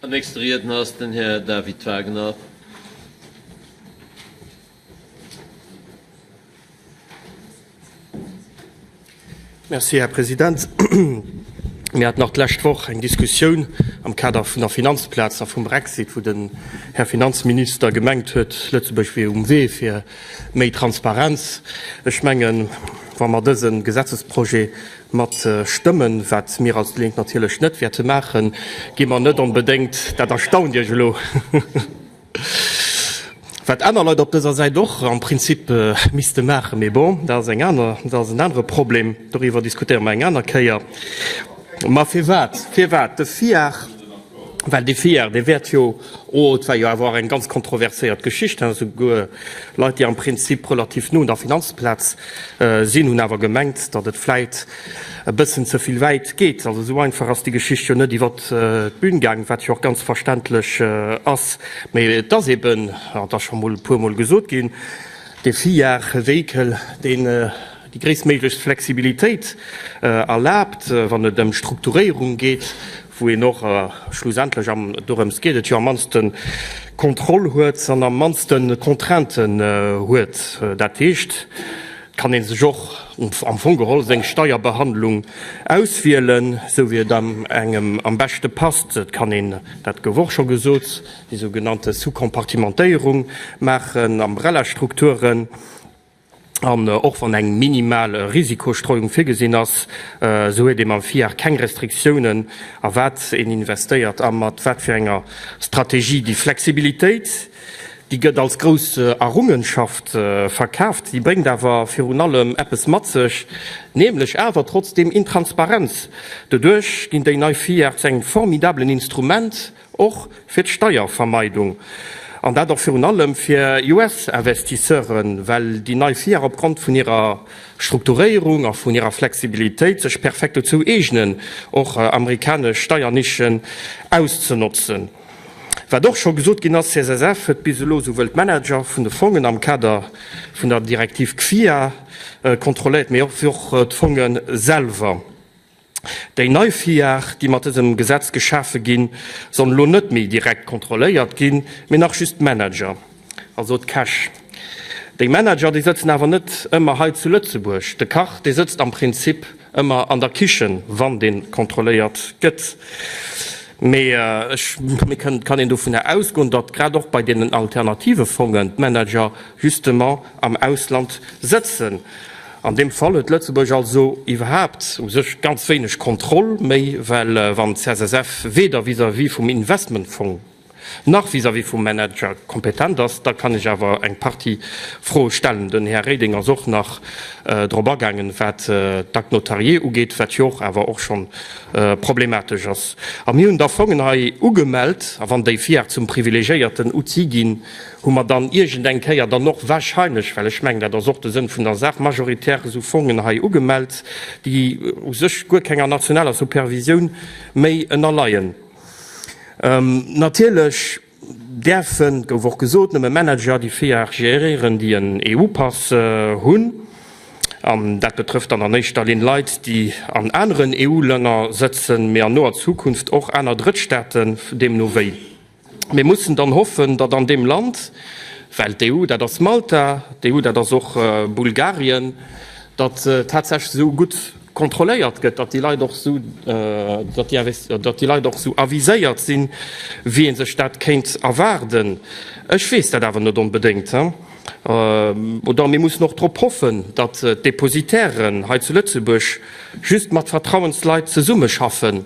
Den nächste Riedner ass den Här David Wagner. Merci, Här President. Mir haten nach d'lescht Woch eng Diskussioun am Kader vun der Finanzplaz a vum Brexit, wou den Här Finanzminister gemengt huet, Lëtzebuerg wier um Wee fir méi Transparenz. Ech mengen, wa mer dëse Gesetzesprojet Mat Stëmmen, wat mir als déi Lénk natierlech net wäerte maachen, gi mer net onbedéngt, dat erstaunt Iech elo, wat aner Leit op dëser Säit och am Prinzip misste maachen, mee bon, dat ass eng aner, dat ass en anere Problem, doriwwer diskutéiere mer eng aner Kéier. Mä firwat, firwat de FIAR? Well dee Fear, dee wäert jo, oh, et war jo awer och eng ganz kontroverséiert Geschicht, hein, souguer Leit, déi am Prinzip relativ no un der Finanzplaz sinn, hunn awer gemengt, datt et vläit e bëssen ze vill wäit geet. Also esou einfach ass déi Geschicht jo net iwwert d'Bün gaang, wat jo och ganz verständlech ass. Mee et ass eben, an et ass scho mol e puermol gesot ginn, dee Fear, e Véhicule, deen, Déi gréisstméiglechst Flexibilitéit erlaabt, wann et ëm Strukturéierung geet, wou een och schlussendlech, an dorëms geet et jo, am mannste Kontroll huet an am mannste Contrainten huet. Dat heescht, et kann ee sech och am Fong geholl seng Steierbehandlung auswielen, esou wéi et engem am beschte passt. Et kann een, dat gouf och scho gesot, déi sougenannte Sous-compartimentéierung maachen, Umbrellastrukturen. An och wann eng minimal Risikostreuung virgesinn ass, esou huet ee mam FIAC keng Restriktiounen, a wat een investéiert a mat wat fir enger Strategie. Déi Flexibilitéit, déi gëtt als grouss Errungenschaft verkaaft. Si bréngt awer virun allem eppes mat sech, nämlech awer trotzdeem Intransparenz. Doduerch ginn déi nei FIAC zu engem formidabelen Instrument, Och fir d'Steiervermeidung, an dat och virun allem fir US-Investisseuren, well déi nei FIAC opgrond vun hirer Strukturéierung a vun hirer Flexibilitéit sech perfekt dozou eegnen, och amerikanesch Steiernischen auszenotzen. Wat och scho gesot ginn ass, CSSF huet bis elo souwuel d'Manager vun de Fongen am Kader vun der Direktiv CFIA kontrolléiert, mee och d'Fonge selwer. Déi nei Villagen, déi mat dësem Gesetz geschafe ginn, sollen elo net méi direkt kontrolléiert ginn, mee nach just d'Manager, also d'Käch. Déi Manager, déi sëtzen awer net ëmmer hei zu Lëtzebuerg. De Kach, dee sëtzt am Prinzip ëmmer an der Kichen, wann dee kontrolléiert gëtt. Mee ech mengen, et kann een dovunner ausgoen, datt grad och bei deenen alternative Fongen d'Manager justement am Ausland sëtzen. An deem Fall huet Lëtzebuerg also iwwerhaapt u sech ganz wéineg Kontroll méi, well wann d'CSSF weder vis-à-vis vum Investmentfong nach vis-à-vis vum Manager kompetent ass, da kann ech awer eng Partie Froe stellen. Den Här Reding ass och nach drop agaangen, wat d'Actes notariés ugeet, wat jo och awer och schonn problematesch ass. A mir hunn da Fongen hei ugemellt, a wann déi FIAC zum privilegiéierten Outil ginn, hu mer dann iergendeng Kéier dann och wahrscheinlech, well ech mengen, dat ass och de Sënn vun der Saach, majoritär esou Fongen hei ugemellt, déi u sech guer kenger nationaler Supervisioun méi ënnerleien. Natierlech däerfen, gouf och gesot, nëmme Manager déi VIAR géréieren, déi en EU-Pass hunn. An dat betrëfft dann an éischter Linn Leit, déi an aneren EU-Länner sëtzen, mee an noer Zukunft och aner Drëttstaaten, deemno wéi. Mir mussen dann hoffen, datt an deem Land, well d'EU, dat ass Malta, d'EU, dat ass och Bulgarien, datt tatsächlech esou gutt kontrolléiert gëtt, datt déi Leit och esou, datt déi Leit och esou aviséiert sinn, wéi ee sech dat kéint erwaarden. Ech weess dat awer net onbedéngt. Oder mir mussen och drop hoffen, datt d'Depositären hei zu Lëtzebuerg just mat Vertrauensleit zesummeschaffen.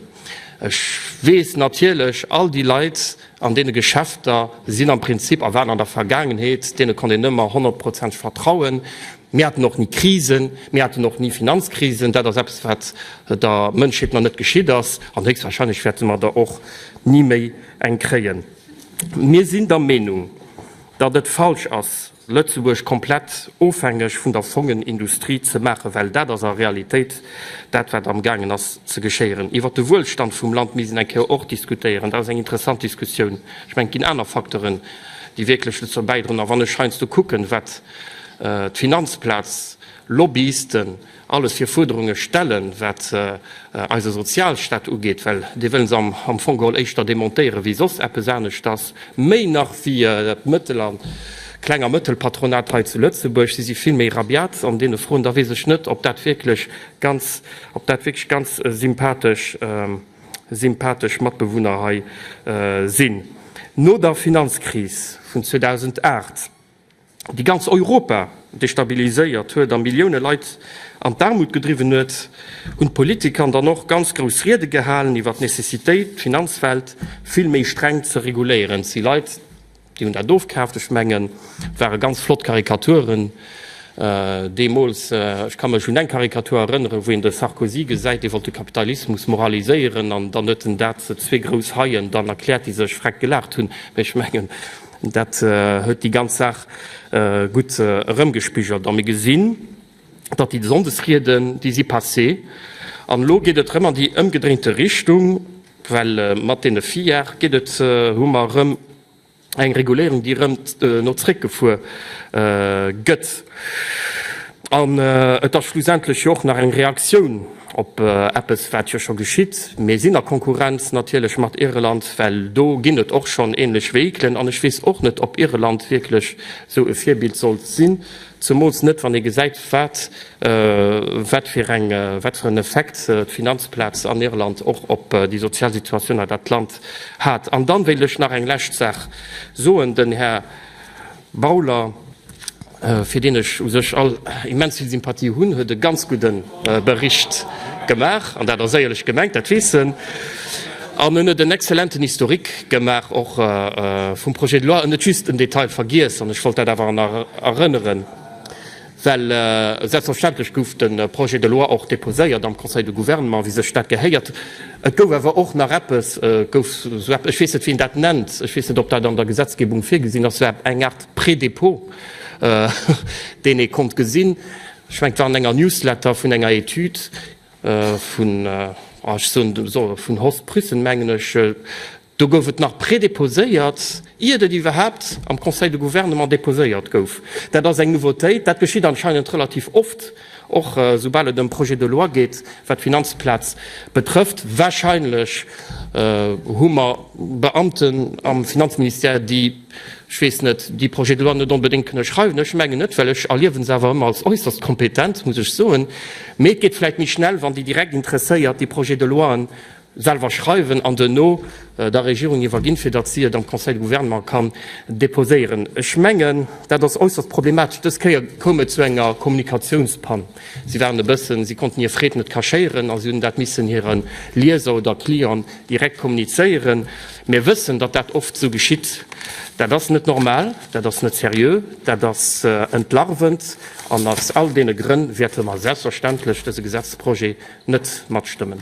Ech weess natierlech, all déi Leit an deene Geschäfter sinn am Prinzip a waren an der Vergaangenheet, deene konnt een ëmmer honnertprozenteg vertrauen. Mir haten och ni Krisen, mir haten och ni Finanzkrisen. Dat ass eppes, wat der Mënschheet nach net geschitt ass, an héchstwahrscheinlech wäerte mer der och ni méi eng kréien. Mir sinn der Meenung, datt et falsch ass, Lëtzebuerg komplett ofhängeg vun der Fongenindustrie ze maachen, well dat ass a Realitéit dat, wat amgaangen ass ze geschéieren. Iwwert de Wuelstand vum Land misst een eng Kéier och diskutéieren. Dat ass eng interessant Diskussioun. Ech mengen, et ginn aner Facteuren, déi wierklech dozou bäidroen. A wann ech heiansdo kucken, wat d'Finanzplaz, Lobbyisten, alles fir Fuerderunge stellen, wat eise Sozialstaat ugeet, well dee wëlle se am Fong geholl éischter demontéieren, wéi soss eppes aneschters, méi nach wéi d'Mëttel a Kleng a Mëttelpatronat hei zu Lëtzebuerg. Si si vill méi rabiat an deene Froen. Da weess ech net, ob dat wierklech ganz, ob dat wierklech ganz sympathesch, sympathesch Matbewunner hei sinn. No der Finanzkris vun 2008, déi ganz Europa destabiliséiert huet a Millioune Leit an d'Aarmut gedriwwen huet, hunn d'Politiker an der Nord ganz grouss Riede gehalen iwwer d'Necessitéit, d'Finanzwelt vill méi streng ze reguléieren. Et si Leit, déi hunn dat ofkaaft. Ech mengen, et ware ganz flott Karikaturen deemools. Ech ka mech un eng Karikatur erënneren, wou een de Sarkozy gesäit, dee wollt de Kapitalismus moraliséieren an dann huet en dat zwee grouss Haien dann erkläert, déi sech vreck gelaacht hunn. Mee ech mengen, Dat huet déi ganz Saach gutt erëmgespigelt a mir gesinn, datt déi Sonndesrieden, déi si passé an elo geet et erëm an déi ëmgedréinte Richtung, well mat deene Filière geet et, hu mer erëm eng Reguléierung, déi erëm no zréckgefuer gëtt. An et ass schlussendlech jo och nach eng Reaktioun op eppes, wat jo scho geschitt. Mir sinn a Konkurrenz natierlech mat Irland, well do ginn et och schonn änlech Vehiclen. An ech weess och net, ob Irland wierklech esou e Virbild sollt sinn, zemools net, wann ee gesäit, wat fir en Effekt d'Finanzplaz an Irland och op déi sozial Situatioun an dat Land hat. An dann wéilt ech nach eng lescht Saach soen. Den Här Bauler, fir deen ech u sech all immens vill Sympathie hunn, huet e ganz gudde Bericht gemaach. An dat ass éierlech gemengt, dat weess en. An en huet en exzellenten Historique gemaach och vum Projet de loi. En huet just en Detail vergiess, an ech wollt dat awer nach erënneren. Well selbstverständlech gouf de Projet de loi och déposéiert am Conseil de Gouvernement, wéi sech dat gehéiert. Et gouf awer och nach eppes, gouf sou epp, ech weess net, wéi een dat nennt, ech weess net, ob dat an der Gesetzgebung virgesinn ass, sou epp eng Aart Prédépôt, deen ee konnt gesinn. Ech mengen, et war an enger Newsletter vun enger Etüd vun, ah, ech soen, vun Horst Prüssen, mengen ech. Do gouf et nach prédéposéiert, iert et iwwerhaapt am Conseil de Gouvernement déposéiert gouf. Dat ass eng Nouveautéit. Dat geschitt anscheinend relativ oft, och soubal et ëm Projets de loi geet, wat d'Finanzplaz betrëfft. Wahrscheinlech hu mer Beamten am Finanzministère, déi, ech weess net, déi Projets de loi net onbedéngt kënne schreiwen. Ech mengen net, well ech erliewe se awer ëmmer als äusserst kompetent, muss ech soen. Mee et geet vläicht méi schnell, wann déi direkt Interesséiert déi Projets de loien selwer schreiwen an duerno der Regierung iwwerginn, fir datt si et am Conseil de Gouvernement kann deposéieren. Ech mengen, dat ass äusserst problematesch. Dës Kéier koum et zu enger Kommunikatiounspann. Si waren e bëssen, si konnten hir Freed net cachéieren a si hunn dat missen hire Lieser oder Clienten direkt kommunizéieren. Mir wëssen, datt dat oft esou geschitt. Dat ass net normal. Dat ass net seriö, dat ass entlarvend, an aus all deene Grënn wäerte mer selbstverständlech dese Gesetzesprojet net matstëmmen.